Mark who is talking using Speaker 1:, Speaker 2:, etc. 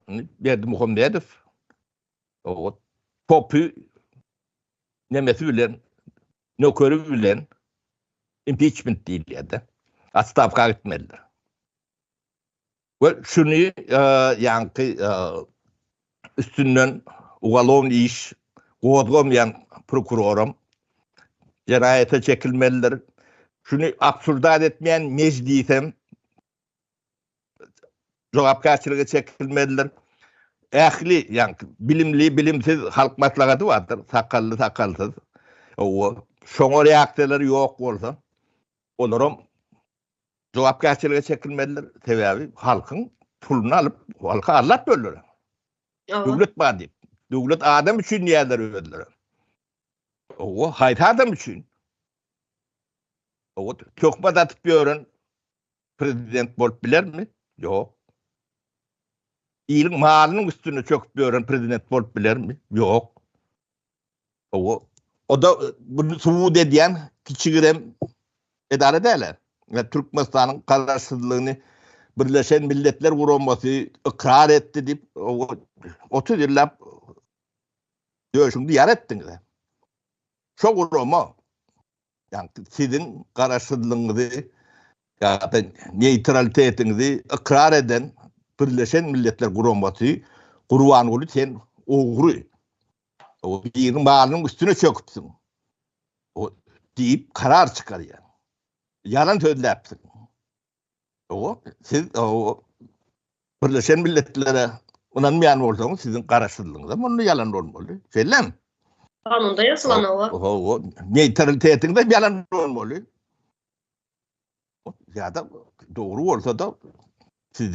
Speaker 1: Indi Berdimuhamedow o topy nemesi bilen nökeri bilen impeachment diýilýär-de. Atstawka gitmelidir. We şuny e, ýaňky e, üstünden ugalon iş gozgamaýan prokuroram jenaýata çekilmelidir. Şuny absurdat etmeýän mejlisem jogapkärçilige çekilmelidir. Ähli, ýagny bilimli, bilimsiz halk maslahaty bardyr, sakally, sakalsyz. Owa, şoňa reaksiýalary ýok bolsa, olaram jogapkärçilige çekilmelidir. Sebäbi halkyň puluny alyp, halka allap böldüler. Owa. Döwlet bar diýip. Döwlet adam üçin diýýärler özleri. Owa, haýsy adam üçin? Owa, töhmet atyp ýören prezident bolup bilermi? Ýok. Iliň malynyň üstüne çöküp ýören prezident bolup bilermi? Ýok. O, o da bunu subut edýän kiçigirem edara däl. Yani, Türkmenistanyň garaşsyzlygyny Birleşen Milletler Guramasy ykrar etdi diýip, 30 ýyllap döşüňi ýar etdiňiz. Şo gurama ýagny siziň garaşsyzlygyňyzy ýa-da neýtralitetiňizi ykrar eden Birleşen Milletler Guramasy Gurbanguly sen ogry. O biriň malynyň üstüne çöküpsiň. O diýip karar çykarýar. Ýalan sözläpsiň. Oňa siz o Birleşen Milletlere ynanmaýan bolsaňyz, siziň garaşsyzlygyňyz hem onda ýalan bolmaly. Şeýlemi? Kanunda
Speaker 2: ýazylan o. O neytralitetiňiz
Speaker 1: hem ýalan bolmaly. Ýa-da dogry bolsa-da sizden